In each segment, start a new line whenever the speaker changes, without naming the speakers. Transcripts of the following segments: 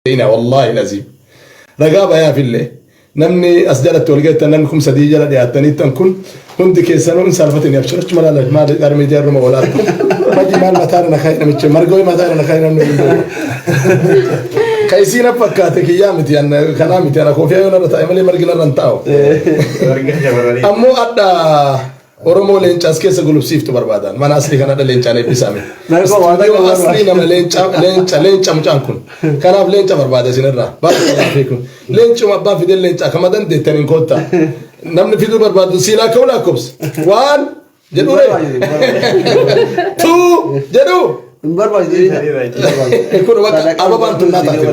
beeyna wallaahi laziim ragaa bayaaf illee namni as jalatti wal geettan namni kum sadii jala dhiyaattaniittan kun hundi keessanuu in saalfatini abshirachu malaala maali gara miidiyaa irruma oolaa maji maal mataa irra nakaa'e namichi margoo mataa irra nakaa'e namni hundi ka isiin akka fakkaate kiyyaa miti an kanaa miti ana koofiyaa yoo narra taa'e malee margi narra hin taa'u Warga shamarranii. ammoo adda Oromoo leenca as keessa gulubsiiftu barbaadaan. Mana aslii kan hadha leencaan eebbisaa mee. Narba waan Studio akka waan aslii nama leenca leenca leenca mucaan kun. Kanaaf leenca barbaada isin irraa. Baay'ee laafee kun. Leencuma abbaan fideen leenca akkama dandeettan hin koottaa. Namni fiduu barbaadu siilaa ka'u lakkoofsa. Waan jedhu ree. Tuu jedhu. Hin barbaachisu. kun bakka ababaan tun naa taate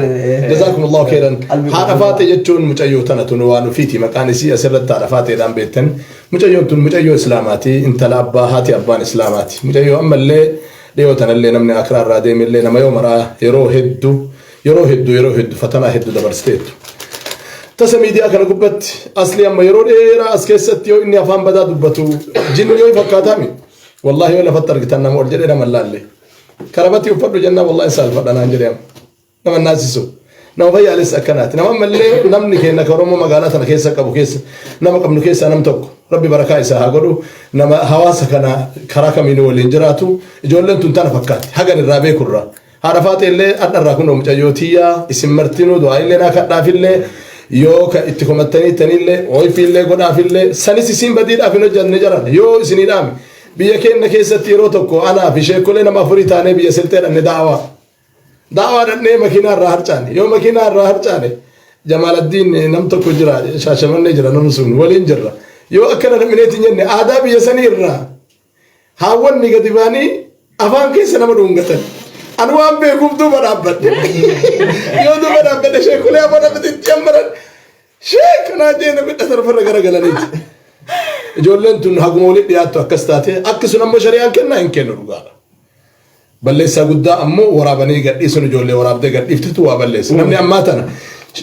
jazaakumullahu khairan haadha faate jechuun mucayyoo tana tun waan ofiiti maqaan isii asirratti haadha faateedhaan beektan Mucayyoon tun mucayyoo islaamaati intala abbaa haati abbaan islaamaati mucayyoo ammallee dhiyoo tanallee namni aakiraa irraa deemellee nama yoo maraa yeroo heddu yeroo heddu yeroo heddu fatanaa heddu dabarsteettu tasa miidiyaa kana gubbatti asli amma yeroo dheeraa as keessatti yoo inni afaan badaa dubbatu jinni yoo fakkaataami wallaahi yoo lafatti argitan nama ol jedhee nama hin laalle karabatii uffadhu jennaa wallaahi hin saalfadha naan jedhee amma nama naasisu nama fayyaalessa akkanaati nama ammallee namni keenya ka oromoo magaalaa tana keessa qabu keessa nama qabnu keessaa nam tokko rabbi barakaa isaa haa godhu nama hawaasa kana karaa kamiin waliin jiraatu ijoolleen tun tana fakkaatti hagan irraa beekurra haadha faaxee illee adha irraa kunoo mucayyoo tiyyaa isin martinuu du'aa illee naa kadhaafillee yoo ka itti komattanii tanillee oifiillee godhaafillee sanis isiin badiidhaaf hin hojjanne jaran yoo isinii dhaame biyya keenya keessatti yeroo tokko anaa fi sheekolee nama afurii taanee biyya silxee dhanne daawaa Daawaa dhannee makiinaa irraa harcaane. Yoo makiinaa irraa harcaane Jamaaladdiin nam tokko jira shaashamannee jira namni sun waliin jirra. Yoo akkana dhamineeti hin jenne aadaa biyya sanii irraa haawwanni gadi baanii afaan keessa nama dhungatan. Ani waan beekuuf duuba dhaabbadhe. Yoo duuba dhaabbadhe sheekulee afaan dhaabbatee itti jammaran sheek kanaa jee namni dhasarfarra garagalaniiti. Ijoolleen tun haguma walitti dhiyaattu akkas taate akki sun ammoo shari'aan kennaa hin kennu dhugaadha. Balleessaa guddaa ammoo waraabanii gadhiisuun ijoollee waraabdee gadhiiftetu waa balleessa. Namni ammaa tana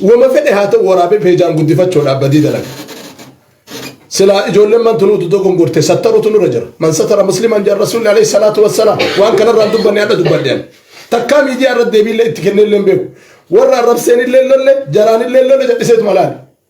wama fedhe haa ta'u waraabee peejaan guddifachuudhaaf badii dalaga. Silaa ijoolleen man tunuutu dogongorte sattaruutu nurra jira. Man satara musliman jedha rasuulli alayhi salaatu wassalaam. Waan kanarraan dubbanne hadha dubbadhe ani. Takkaa miidiyaa irratti deebiillee itti kennee illee hin beeku. Warra arrabseen illee lolle jaraan illee lolle jal'iseetuma laale.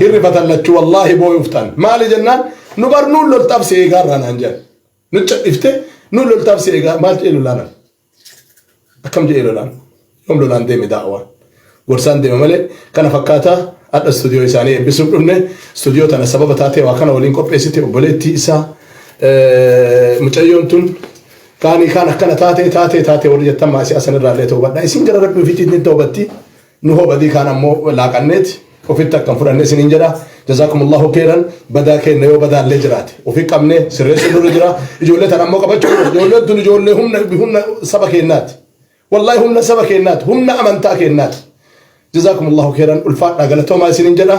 hin rifatan lachuu wallaahi booyuuf taan maali jennaan nu bar nuun loltaaf si eegaa irraa naan jedhan nu cadhifte nuun loltaaf si eegaa maal jedhee lolaanan akkam jedhee lolaan yoom lolaan deeme daawaan gorsaan deeme malee kana fakkaataa adha istuudiyoo isaanii eebbisuuf dhufne istuudiyoo tana sababa taatee waa kana waliin qopheessite obboleettii isaa mucayyoon tun kaanii kaan akkana taatee taatee taatee warri jettan maasii asanirraa illee ta'uu badhaa isin gara rabbii ofiitti ittiin ta'uu batti Nu hoo badii kaan ammoo laaqanneeti ofitti akka hin fudhanne isiniin jedha. Jazaakumullahu keeyran badaa keenna yoo badaan illee jiraate ofi qabnee sirreessuun nurra jira. Ijoollee tana ammoo qabachuu qabna. Ijoolleen tun ijoollee humna humna saba keennaati. Wallaahi humna saba keennaati. Humna amantaa keennaati. Jazaakumullahu keeyran ulfaadhaa galatoomaa isiniin jedha.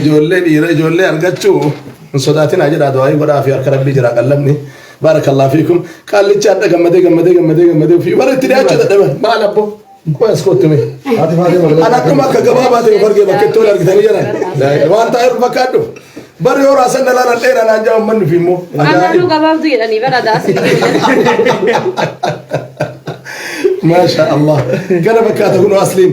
Ijoollee dhiira ijoollee argachuu hin sodaatinaa jedhaa du'aayii godhaa fi harka rabbii jiraa qallabni baarakallah fiikum qaallichi adda gammadee gammadee gammadee gammadee ofii bara itti dhiyaachuu dadhaban maal abbo qoy as kootti mee an akkuma akka gabaabaa ta'e of argee bakka itti wal argitanii jiran waan taa'e ol fakkaadhu barri yoo raasan dhalaan an dheeraa naan ja'a ummanni fi immoo Ananuu gabaabdu
jedhanii bara
daasii. maasha allah kana fakkaata kunoo asliin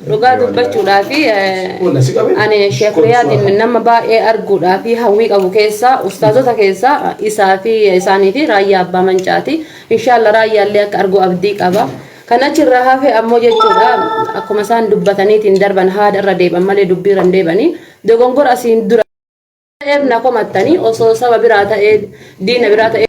Dhugaa dubbachuudhaaf ani Sheek Riyaadiin nama baay'ee arguudhaaf hawwii qabu keessaa ustaazota keessaa isaa fi isaanii fi raayyaa abbaa mancaati. Inshaallah raayyaallee akka argu abdii qaba. Kan achirraa hafe ammoo jechuudha akkuma isaan dubbataniitiin darban haada irra deeban malee dubbii irra hin deebanii dogongora asiin dura ta'eef na komattanii osoo saba biraa ta'ee diina biraa ta'ee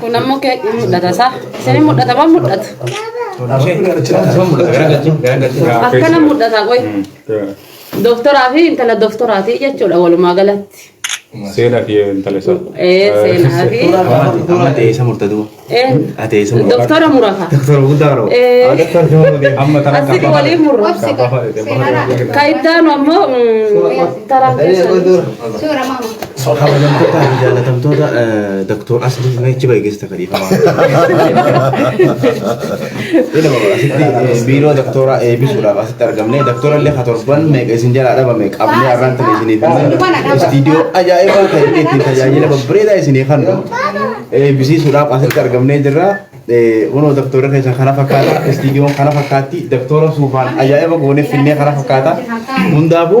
Kun
ammoo kee hin mul'ata isaa. Isin mul'ata moo mul'atu? Akkana mul'ata qoy. Doktoraa fi intala doktoraati jechuudha walumaa galatti. Seenaa fi
intala isaa. Ee seenaa
fi. Amma teessa
murtatu. Ee Ateessa murtatu. doktora murata.
Doktora guddaa roo.
Ee
Amma tana asitti walii murra.
Ka ittaanu ammoo mm, taraan keessan. Suura maama.
Kabajamtootaa fi jaalatamtoota Dr. Asli Meechi Baay'eessa Kadiifama. Ilma asitti biiroo Dr. eebisuudhaaf asitti argamne Dr. illee ka torban meeqa isin jalaa dhabame qabnee har'aan tana isiniif himne istiidiyoo ajaa'ibaa ta'e ittiin tajaajila babbareedaa isinii kennu eebisiisuudhaaf asitti argamnee jirra. Kunoo doktora keessa kana fakkaata istiidiyoon kana fakkaatti doktora suufaan ajaa'iba goonee finnee kana fakkaata hundaafuu